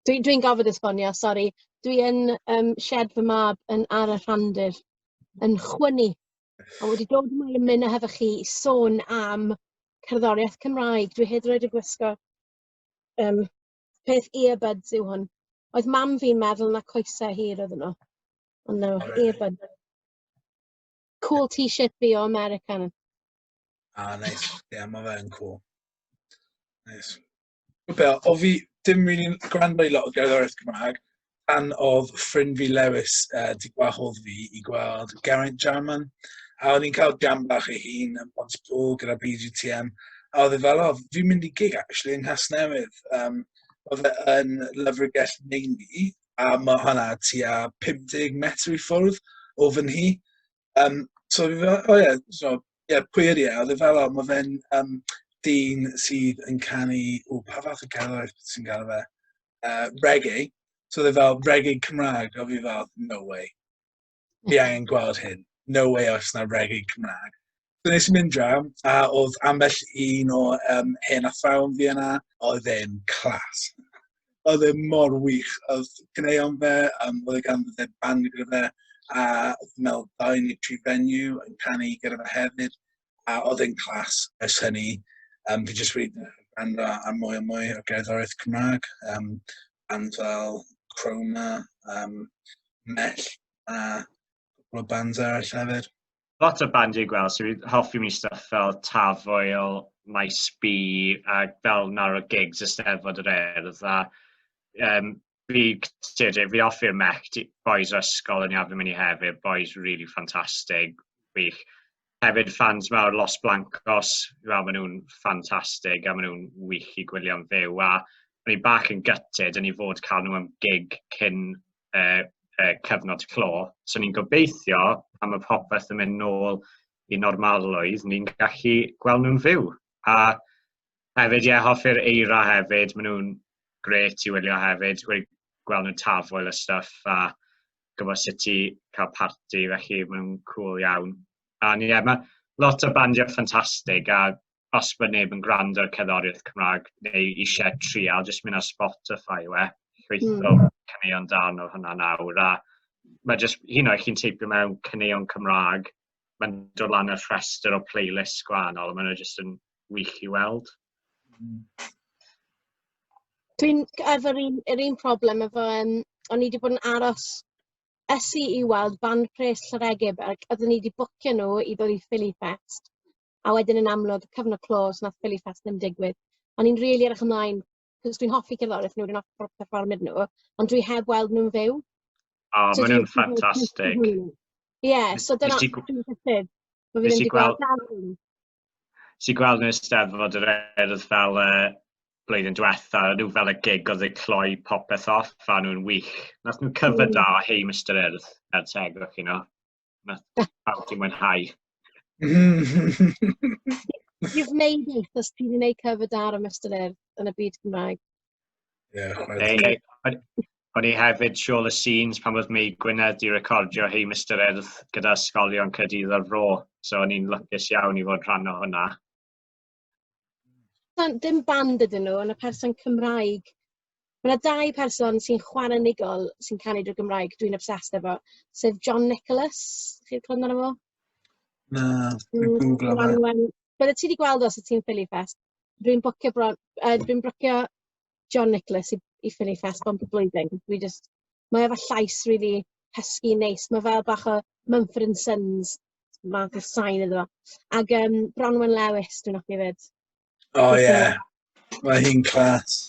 Dwi dwi'n gorfod esbonio sori. Dwi yn yym sied fy mab yn ar y rhandir yn chwynnu a wedi dod yma i ymuno hefo chi i sôn am cerddoriaeth Cymraeg. Dwi hyd yn oed yn gwisgo um, peth earbuds yw hwn. Oedd mam fi'n meddwl na coesau hir oedd nhw. Ond no, earbuds. Cool t-shirt fi o American. Ah, nice. Ie, yeah, mae fe'n cool. Nice. Be, o fi dim rili'n gwrando i lot o gerddoriaeth Cymraeg, pan oedd ffrind fi Lewis uh, di gwahodd fi i gweld Geraint Jarman, a o'n i'n cael jam bach ei hun yn Pont Pŵl gyda BGTM, a oedd e fel, o, fi'n mynd i gig actually yng Nghas Newydd. Um, oedd e yn Lyfrgell Meini, a mae hwnna tua 50 metr i ffwrdd o fy nhi. Um, so, o ie, so, ie, pwy ydi e? Oedd e fel, mae fe'n um, dyn sydd yn canu, o, pa fath o cerddoriaeth sy'n gael fe? Uh, reggae. So oedd e fel, reggae Cymraeg, a fi fel, no way. Fi angen gweld hyn. No way os na reggae Cymraeg. So nes i mynd draw, a oedd ambell un o um, hen athrawon fi yna, oedd e'n clas. oedd e mor wych. Oedd gwneuon fe, um, oedd e gan fod e band gyda fe, a oedd mewn dau neu tri venue yn canu gyda fe hefyd, a oedd e'n clas ers hynny. Um, fi jyst wedi gwrando ar mwy a mwy o gerddoriaeth Cymraeg, um, band fel Chroma, um, Mell, a Cwpl o bands arall hefyd. Lot o band i'n gweld, so fi'n hoffi mi stuff fel Tafoel, Maes B, a fel nawr o gigs y Steddfod yr Erdd, a um, fi, fi offi'r mech, boys o ysgol yn iawn mynd i hefyd, boys really fantastic, wych. Hefyd fans mawr Los Blancos, fel maen nhw'n ffantastig a maen nhw'n wych i gwylio'n fyw. A o'n i bach yn gytid yn ei fod cael nhw am gig cyn e, e, cyfnod clo. So ni'n gobeithio am y popeth yn mynd nôl i normalrwydd, ni'n gallu gweld nhw'n fyw. A hefyd, ie, yeah, hoffi'r eira hefyd, maen nhw'n gret i wylio hefyd, wedi gweld nhw'n tafoel y stuff a gwybod sut ti cael party, felly maen nhw'n cool iawn. A ie, yeah, mae lot o bandiau ffantastig a os bod neb yn gwrando ar cerddoriaeth Cymraeg neu eisiau trial, jyst mynd ar Spotify yw e, chweithio mm. caneuon dan o hwnna nawr. A mae jyst, hyn o'i chi'n teipio mewn caneuon Cymraeg, mae'n dod lan y rhestr o playlist gwahanol, a mae'n jyst yn wych i weld. Dwi'n efo'r un, yr un problem efo, um, o'n i wedi bod yn aros esu i weld band pres Llyregib ac oeddwn i wedi bwcio nhw i ddod i Philly Fest a wedyn yn amlwg, cyfnod clos, nath Philly Fest ddim digwydd. O'n i'n rili edrych ymlaen, cos dwi'n hoffi cerddoriaeth nhw, dwi'n hoffi perfformio nhw, ond dwi heb weld nhw'n fyw. O, so maen nhw'n ffantastig. Ie, yeah, so dyna... Nes i gweld... Nes i gweld nhw'n steddfod yr erdd fel uh, blwyddyn diwetha, nhw fel y gig oedd eu cloi popeth off, a nhw'n wych. Nath nhw'n cyfyd mm. da o hei Mr Earth, er teg o'ch chi nhw. Mae pawb wedi mwynhau. You've made it, os ti'n gwneud cover dar am ystyr yn y byd Cymraeg. Yeah, O'n i hefyd siôl y scenes pan oedd Mei Gwynedd di recordio hei Mr Erdd gyda ysgolion Caerdydd o'r fro. So o'n i'n lwcus iawn i fod rhan o hwnna. dim band ydyn nhw, ond y person Cymraeg. Mae yna dau person sy'n chwarae nigol sy'n canu drwy Gymraeg, dwi'n obsessed efo, sef John Nicholas, chi'n clywed amdano fo? Na, dwi'n mm, googlo fe. Bydde ti wedi gweld os y ti'n ffili ffest. Dwi'n bwcio bron, uh, dwi'n bwcio John Nicholas i, i Philly Fest bob blwyddyn. Dwi just... Mae efo llais really husky, neis. Mae fel bach o Mumford and Sons math o sain iddo fo. Ac um, Bronwyn Lewis, dwi'n offi fyd. O oh, ie. Yeah. Mae hi'n clas.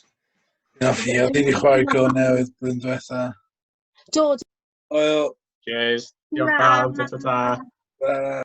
Dwi'n offi. Oedd hi'n chwarae go newydd blwyddyn diwetha. Do. Oil. Cheers. Diolch pawb. Ta ta ta.